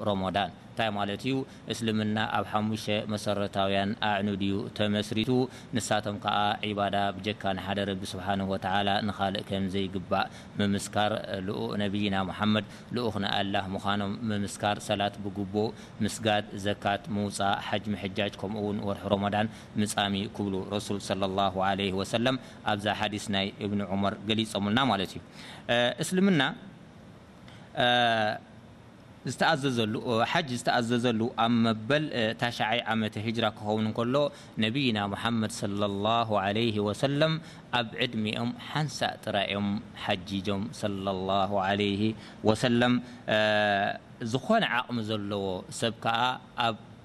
ሮሞዳን እንታይ ማለት እዩ? እስልምና ኣብ ሓሙሽተ መሰረታውያን ኣዕኑድ እዩ ተመስሪቱ። ንሳቶም ከኣ ዒባዳ ብጀካ ንሓደ ረቢ ስብሓነሁ ወተዓላ ንኻልእ ከም ዘይግባእ ምምስካር፣ ልኡኽ ነብይና ሙሓመድ ልኡኽ ናይ ኣላህ ምዃኖም ምምስካር፣ ሰላት ብግቡእ ምስጋድ፣ ዘካት ምውጻእ፣ ሓጅ ምሕጃጅ ከምኡ'ውን ወርሒ ሮሞዳን ምጻም እዩ ክብሉ ረሱል ሰለላሁ ዓለይሂ ወሰለም ኣብዛ ሓዲስ ናይ እብኒ ዑመር ገሊጾምልና ማለት እዩ። እስልምና። ዝተኣዘዘሉ፣ ሓጅ ዝተኣዘዘሉ፣ ኣብ መበል ታሽዓይ ዓመተ ሂጅራ ክኸውን እንከሎ፣ ነብይና ሙሓመድ ሰለላሁ ዓለይሂ ወሰለም ኣብ ዕድሚኦም ሓንሳእ ጥራይ እዮም ሓጂጆም ሰለላሁ ዓለይሂ ወሰለም። ዝኾነ ዓቕሚ ዘለዎ ሰብ ከኣ ኣብ።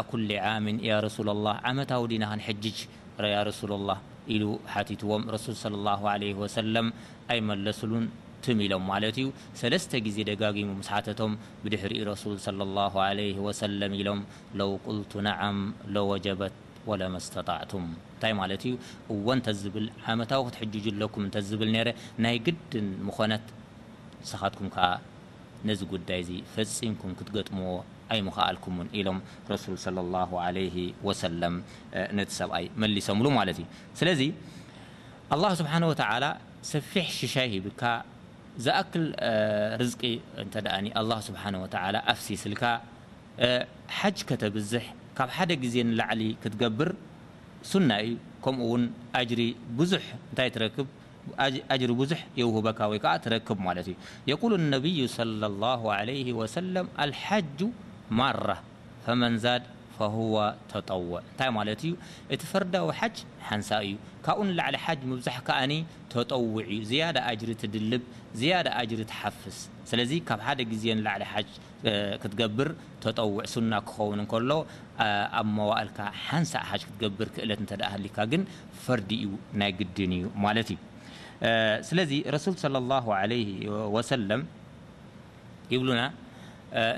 ኣኩሊ ዓምን ያ ረሱለላህ፣ ዓመታዊ ዲና ክንሕጅጅ ያ ረሱለላህ? ኢሉ ሓቲትዎም፣ ረሱል ሰለላሁ ዓለይሂ ወሰለም ኣይመለስሉን፣ ትም ኢሎም ማለት እዩ፣ ሰለስተ ግዜ ደጋጊሙ ምስ ሓተቶም ብድሕሪኡ ረሱል ሰለላሁ ዓለይሂ ወሰለም ኢሎም፣ ለው ቁልቱ ነዓም ለወጀበት ወለመስተጣዕቱም፣ እንታይ ማለት እዩ፣ እወ እንተዝብል፣ ዓመታዊ ክትሕጅጁ ኣለኩም እንተዝብል ነይረ፣ ናይ ግድን ምኾነት፣ ንስኻትኩም ከኣ ነዚ ጉዳይ'ዚ ፈጺምኩም ክትገጥምዎ ኣይምኸኣልኩምን ኢሎም ረሱል ሰለላሁ ዓለይሂ ወሰለም ነቲ ሰብኣይ መሊሶምሉ ማለት እዩ። ስለዚ ኣላህ ስብሓነሁ ወተዓላ ሰፊሕ ሽሻይ ሂብካ፣ ዝኣክል ርዝቂ እንተድኣ ኣላህ ስብሓነሁ ወተዓላ ኣፍሲስልካ፣ ሓጅ ከተብዝሕ ካብ ሓደ ግዜ ንላዕሊ ክትገብር ሱና እዩ፣ ከምኡ'ውን ኣጅሪ ብዙሕ እንታይ ትረክብ? ኣጅሪ ብዙሕ የውህበካ ወይ ከኣ ትረክብ ማለት እዩ። የቁሉ ኣነብዩ ሰለሏሁ ዓለይሂ ወሰለም ኣልሓጁ ማራ ፈመን ዛድ ፈሁወ ተጠውዕ እንታይ ማለት እዩ እቲ ፈርዳዊ ሓጅ ሓንሳእ እዩ ካብኡ ንላዕሊ ሓጅ ምብዛሕ ከኣ ተጠውዕ እዩ ዝያዳ ኣጅሪ ትድልብ ዝያዳ ኣጅሪ ትሓፍስ ስለዚ ካብ ሓደ ግዜ ንላዕሊ ሓጅ ክትገብር ተጠውዕ ሱና ክኸውን እንከሎ ኣብ መዋእልካ ሓንሳእ ሓጅ ክትገብር ክእለት እንተድኣ ሃልዩካ ግን ፈርዲ እዩ ናይ ግድን እዩ ማለት እዩ ስለዚ ረሱል ሰለላሁ ዓለይሂ ወሰለም ይብሉና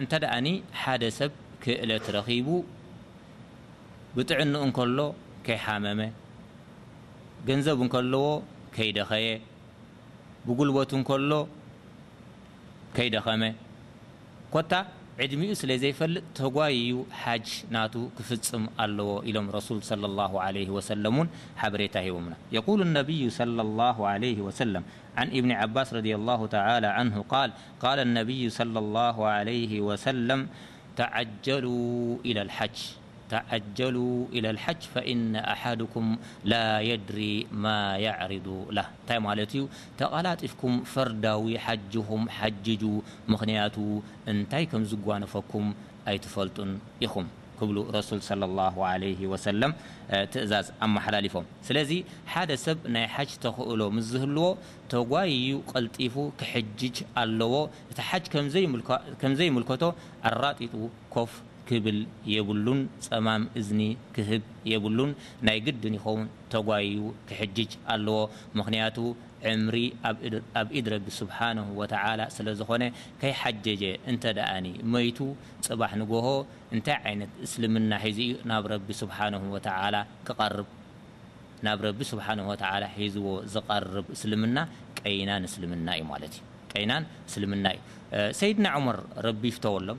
እንተድኣ ሓደ ሰብ ክእለት ረኺቡ ብጥዕንኡ እንከሎ ከይሓመመ ገንዘብ እንከለዎ ከይደኸየ ብጉልበቱ እንከሎ ከይደኸመ፣ ኮታ ዕድሚኡ ስለ ዘይፈልጥ ተጓይዩ ሓጅ ናቱ ክፍጽም ኣለዎ ኢሎም ረሱል ሰለላሁ ዓለይሂ ወሰለም እውን ሓበሬታ ሂቦምና። የቁሉ ነብዩ ሰለላሁ ዓለይሂ ወሰለም ዓን ኢብኒ ዓባስ ረዲየላሁ ተዓላ ዓንሁ ቃል ቃለ ነብዩ ሰለላሁ ዓለይሂ ወሰለም ተዓጀሉ ኢለል ሓጅ። ተዓጀሉ ኢለል ሓጅ ፈኢነ ኣሓድኩም ላየድሪ ማየዕሪዱ ላህ እንታይ ማለት እዩ ተቓላጢፍኩም ፈርዳዊ ሓጅኹም ሓጅጁ ምኽንያቱ እንታይ ከምዝጓነፈኩም ኣይትፈልጡን ኢኹም ክብሉ ረሱል ሰለሏሁ ዓለይሂ ወሰለም ትእዛዝ ኣመሓላሊፎም ስለዚ ሓደ ሰብ ናይ ሓጅ ተኽእሎ ምስ ዝህልዎ ተጓይዩ ቀልጢፉ ክሕጅጅ ኣለዎ እቲ ሓጅ ከምዘይምልከቶ ኣራጢጡ ኮፍ ክብል የብሉን ጸማም እዝኒ ክህብ የብሉን ናይ ግድን ይኸውን ተጓይዩ ክሕጅጅ ኣለዎ ምኽንያቱ ዕምሪ ኣብ ኢድ ረቢ ሱብሓነሁ ወተዓላ ስለዝኾነ ከይሓጀጀ እንተደኣኒ መይቱ ጽባሕ ንጎሆ እንታይ ዓይነት እስልምና ሒዙ'ዩ ናብ ረቢ ሱብሓነሁ ወተዓላ ክቐርብ ናብ ረቢ ሱብሓነሁ ወተዓላ ሒዝዎ ዝቐርብ እስልምና ቀይናን እስልምና'ዩ ማለት'ዩ ቀይናን እስልምና'ዩ ሰይድና ዑመር ረቢ ይፍተወሎም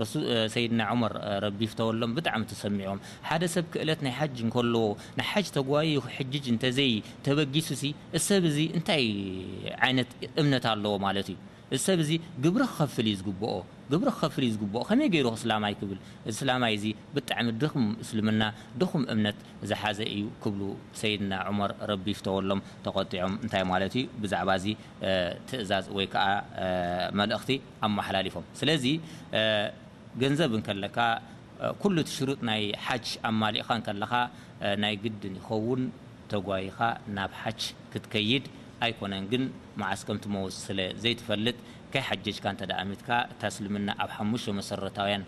ረሱ ሰይድና ዑመር ረቢ ይፍተወሎም ብጣዕሚ ተሰሚዖም ሓደ ሰብ ክእለት ናይ ሓጅ እንከለዎ ንሓጅ ተጓይዩ ክሕጅጅ እንተዘይ ተበጊሱሲ እዚ ሰብ እዚ እንታይ ዓይነት እምነት ኣለዎ ማለት እዩ እዚ ሰብ እዚ ግብሪ ክኸፍል እዩ ዝግብኦ ግብሪ ክኸፍል እዩ ዝግብኦ ከመይ ገይሩ እስላማይ ክብል እዚ ስላማይ እዚ ብጣዕሚ ድኽም እስልምና ድኹም እምነት ዝሓዘ እዩ ክብሉ ሰይድና ዑመር ረቢ ይፍተወሎም ተቆጢዖም እንታይ ማለት እዩ ብዛዕባ እዚ ትእዛዝ ወይ ከኣ መልእኽቲ ኣማሓላሊፎም ስለዚ ገንዘብ እንከለካ ኩሉ እቲ ሽሩጥ ናይ ሓጅ ኣማሊእኻ እንከለኻ ናይ ግድን ይኸውን ተጓይኻ ናብ ሓጅ ክትከይድ ኣይኮነን ግን መዓስ ከምትመውት ስለ ዘይትፈልጥ ከይሓጀጅካ እንተ ኣሚትካ እታ እስልምና ኣብ ሓሙሽተ መሰረታውያን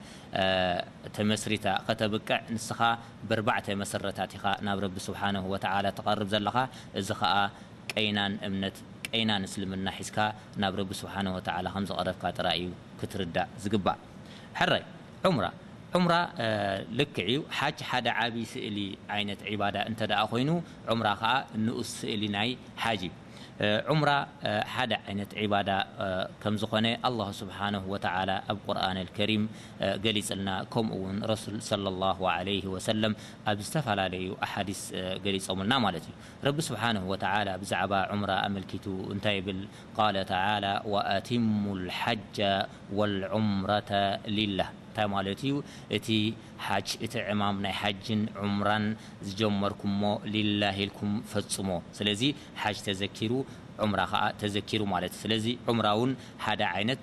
ተመስሪታ ከተብቅዕ ንስኻ በርባዕተ መሰረታት ኢኻ ናብ ረቢ ሱብሓነሁ ወተዓላ ትቐርብ ዘለኻ እዚ ኸኣ ቀይናን እምነት ቀይናን እስልምና ሒዝካ ናብ ረቢ ስብሓነሁ ወተዓላ ከም ዝቐረብካ ጥራይ እዩ ክትርዳእ ዝግባእ። ሕራይ ዑምራ ዑምራ ልክዕ እዩ ሓጅ ሓደ ዓቢ ስእሊ ዓይነት ዒባዳ እንተድኣ ኮይኑ ዑምራ ከኣ ንኡስ ስእሊ ናይ ሓጅ እዩ። ዑምራ ሓደ ዓይነት ዒባዳ ከም ዝኾነ ኣላሁ ስብሓነሁ ወተዓላ ኣብ ቁርኣነል ከሪም ገሊጽልና ከምኡ ውን ረሱል ሰለላሁ ዓለይሂ ወሰለም ኣብ ዝተፈላለዩ ኣሓዲስ ገሊጾምልና ማለት እዩ። ረቢ ስብሓነሁ ወተዓላ ብዛዕባ ዑምራ ኣመልኪቱ እንታይ ይብል? ቃለ ተዓላ ወኣቲሙ ልሓጀ ወልዑምረተ ሊላህ እንታይ ማለት እዩ? እቲ ሓጅ እቲ ዕማም ናይ ሓጅን ዑምራን ዝጀመርኩሞ ሊላህ ኢልኩም ፈፅሞ። ስለዚ ሓጅ ተዘኪሩ ዑምራ ከዓ ተዘኪሩ ማለት እዩ። ስለዚ ዑምራ'ውን ሓደ ዓይነት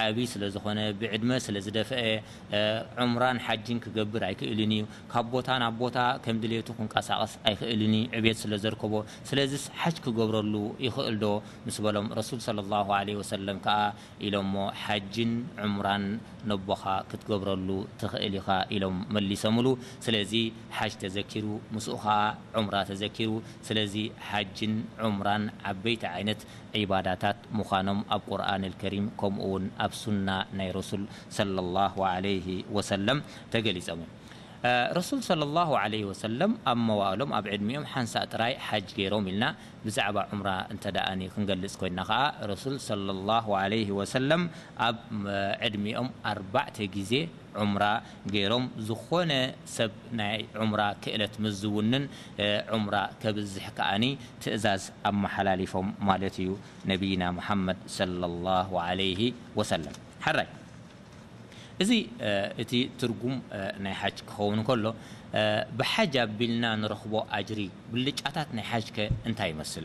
ዓቢ ስለ ዝኾነ ብዕድመ ስለ ዝደፍአ ዑምራን ሓጅን ክገብር ኣይክእልን እዩ። ካብ ቦታ ናብ ቦታ ከም ድሌቱ ክንቀሳቐስ ኣይክእልን እዩ ዕብየት ስለ ዘርከቦ። ስለዚስ ሓጅ ክገብረሉ ይኽእል ዶ? ምስ በሎም ረሱል ሰለላሁ ዓለይሂ ወሰለም ከኣ ኢሎሞ ሓጅን ዑምራን ነቦኻ ክትገብረሉ ትኽእል ኢኻ ኢሎም መሊሰምሉ። ስለዚ ሓጅ ተዘኪሩ ምስኡ ከኣ ዑምራ ተዘኪሩ። ስለዚ ሓጅን ዑምራን ዓበይቲ ዓይነት ዒባዳታት ምዃኖም ኣብ ቁርኣን ኣልከሪም ከምኡ ውን ኣብ ሱና ናይ ረሱል ሰለሏሁ ዓለይሂ ወሰለም ተገሊጾም እዮም። ረሱል ሰለሏሁ ዓለይሂ ወሰለም ኣብ መዋእሎም ኣብ ዕድሚኦም ሓንሳእ ጥራይ ሓጅ ገይሮም ኢልና ብዛዕባ ዑምራ እንተድኣ ክንገልጽ ኮይንና ከኣ ረሱል ሰለሏሁ ዓለይሂ ወሰለም ኣብ ዕድሚኦም ኣርባዕተ ግዜ ዑምራ ገይሮም ዝኾነ ሰብ ናይ ዑምራ ክእለት ምስ ዝውንን ዑምራ ከብዝሕ ከኣ ትእዛዝ ኣመሓላሊፎም ማለት እዩ ነብይና መሓመድ ሰለላሁ ዓለይሂ ወሰለም። ሕራይ እዚ እቲ ትርጉም ናይ ሓጅ ክኸውን እንከሎ ብሓጅ ኣቢልና ንረኽቦ ኣጅሪ ብልጫታት ናይ ሓጅከ እንታይ ይመስል?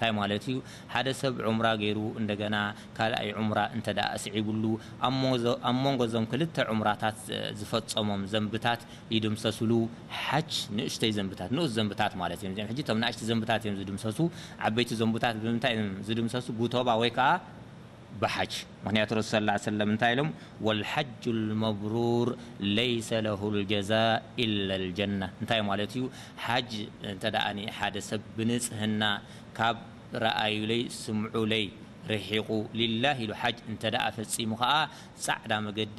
ታይ ማለት እዩ ሓደ ሰብ ዑምራ ገይሩ እንደገና ካልኣይ ዑምራ እንተድኣ ኣስዒብሉ ኣብ ሞንጎ እዞም ክልተ ዑምራታት ዝፈፀሞም ዘንብታት ይድምሰስሉ ሓች ንእሽተይ ዘንብታት ንኡስ ዘንብታት ማለት እዮም እዚኦም ሕጂ እቶም ናእሽቲ ዘንብታት እዮም ዝድምሰሱ ዓበይቲ ዘንቡታት ብምንታይ እዮም ዝድምሰሱ ጉቶባ ወይ ከዓ ብሓጅ ምኽንያቱ ረሱል ሰለላሁ ዓለይሂ ወሰለም እንታይ ኢሎም ወልሓጁል መብሩር ለይሰ ለሁል ጀዛእ ኢለል ጀነህ እንታይ ማለት እዩ ሓጅ እንተ ሓደ ሰብ ብንጽህና ካብ ረኣዩለይ ስምዑለይ ርሒቑ ሊላህ ኢሉ ሓጅ እንተ ፈጺሙ ከኣ ጻዕዳ መገዲ